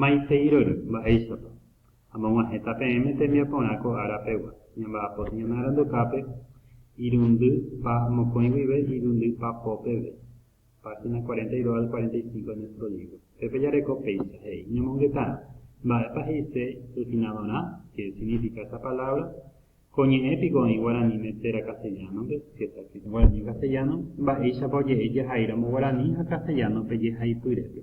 Maiteirory, mba'éichapa? Amog̃uahẽta peẽme tembiaporã ko ára pegua, ñamba'apóta ñane arandukápe irundy pa mokõi guive irundy pa pópeve. Página 42 al 45 de nuestro libro. Pépe jareko péicha he'i, ñamongetárõ, mba'épa he'ise refinadorã, qué significa esa palabra, ko ñe'ẽ piko oĩ guaraníme térã castellano-pe, qué está escrito en guaraní y en castellano, mba'éichapa oje'e jehaíramo guaraní ha castellano-pe jehaipyrépe.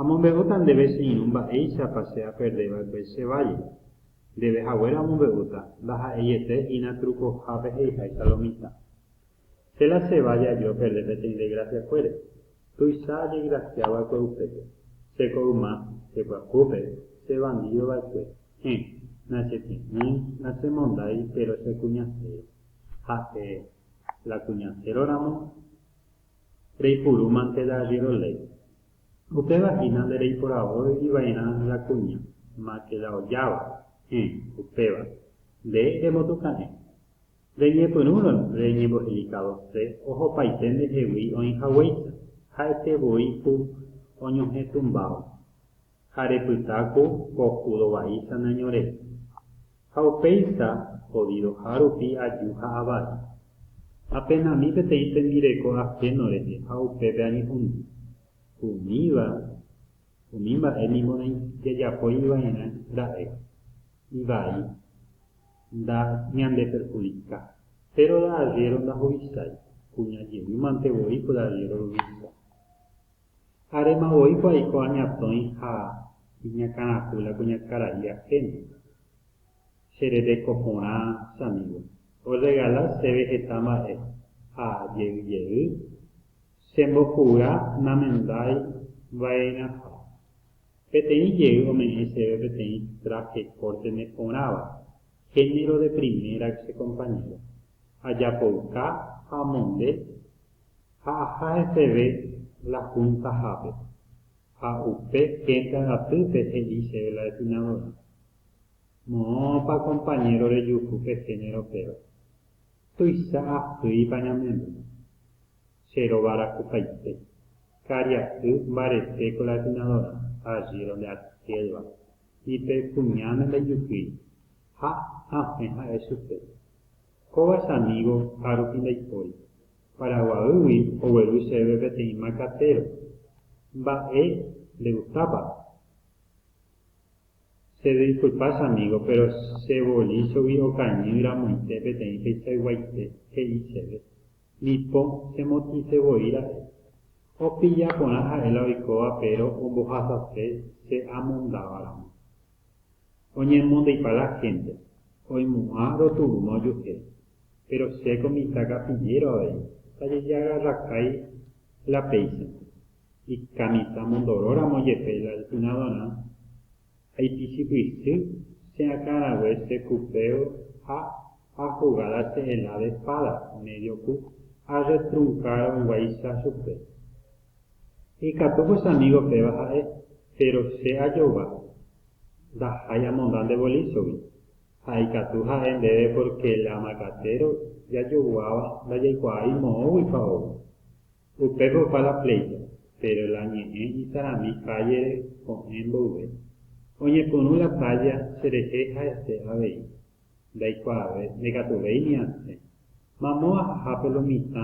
Amombe'úta ndéve che irũ mba'éichapa che aperde va'ekue che válle. Ndéve haguéra omombe'úta, ndaha'eiete hína trukohápe he'iháicha lo mitã. Che la che válle aje operde peteĩ degrasiakuére, tuicha ajegrasia va'ekue upépe. Che ko yma, che pyahúpe, che vandido va'ekue, hẽ, nachepy'ỹi, nachemondái, péro che kuñasero, ha'e, la kuñasero ramo, reipurúmante la arriero léi. Upéva hína nde reiporavói ivairã la kuña, máke la ojáva, héẽ, upéva, nde remotutã'e. Reñepyrũrõ reñembohelikádo'se ohopaite ndehegui oĩ haguéicha, ha'ete voi ku oñohẽ tumbáva. ha repyta ku ko júdo vaícha nañorei. Ha upéicha, jodidoha rupi aju ha avai. Apenami peteĩ tembireko ajeno rehe ha upépe añehundi. Umíva, umi mba'e ningo jajapói iva'erã ra'e. Ivai, nda ñandeperhudika. Péro la arriéro ndahovichái, kuña jevýmante voi ko la arriéro ruvicha. Aréma voi ko aiko añatõi ha iñakãrapu la kuñakarai ahéno. Che rereko porã, che amígo, orregala chéve heta mba'e ha jey jey chembopu'ya namendái va'erãha. Peteĩ jey ome'ẽ chéve peteĩ traje corte neporãva, género de primera che compañero. Ajapouka ha amonde ha aha heseve la Junta-hápe, ha upe ténda ratýpe he'i chéve la Definadora, Moõpa compañero rejuhu pe género péro, tuicha ahýipa ñamemby. Che róga rakupaite, karia'y mbarete ko la Definadora, allí donde aquel-va, ni pe kuñáme ndaijukýi, ha, ãfe ha'e chupe, kóva che amigo ha rupi ndaipóri. Paraguaýgui ogueru chéve peteĩ macatero. Mba'e le gustápa? Che disculpa che amigo, pero che bolíchogui okañy ramoite peteĩ peichayguaite, he'i chéve. Ni po, che motĩse voi ra'e. Opilla porã ha'e la oikóva péro ombohasase che amondáva ramo. Oñemondeipa la hénte, oimu'ã roturũma ojuehe. Péro che ko mitã kapillero avei, tajejaga rakái la péichante. Ikamitã mondoróramo jepe la lpynadorã, aipichypysy che akã rague che kupeo ha ajugáda che ela de espada, medio ku, arretrunkárõ guáicha chupe. Ikatúko che amígo péva ha'e, péro che ajova ndahái amonda nde volísogui. Ha ikatu ha'e ndéve pórke la makatero jajoguáva ndajaikuaái moõguipa ou. Upépe opa la pléito, péro la ñe'ẽ isarami kállere ko'ẽ mboyve. Oñepyrũ la tálla cherehe ha'ete avei. Ndaikuaave, ndekatuvéi ni asẽ. Mamo ahahápe lo mitã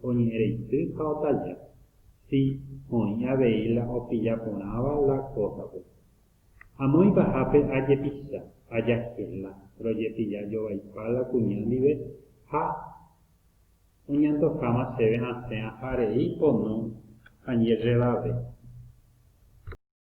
oñe'ẽ reity ha otaja. Sí, oĩ avei la opilla porãva la kósape. Amo ipahápe ajepicha, ajahela, rojepilla jovaipa la kuña ndive ha oñantokáma chéve asẽ aja rei pono añerrevave.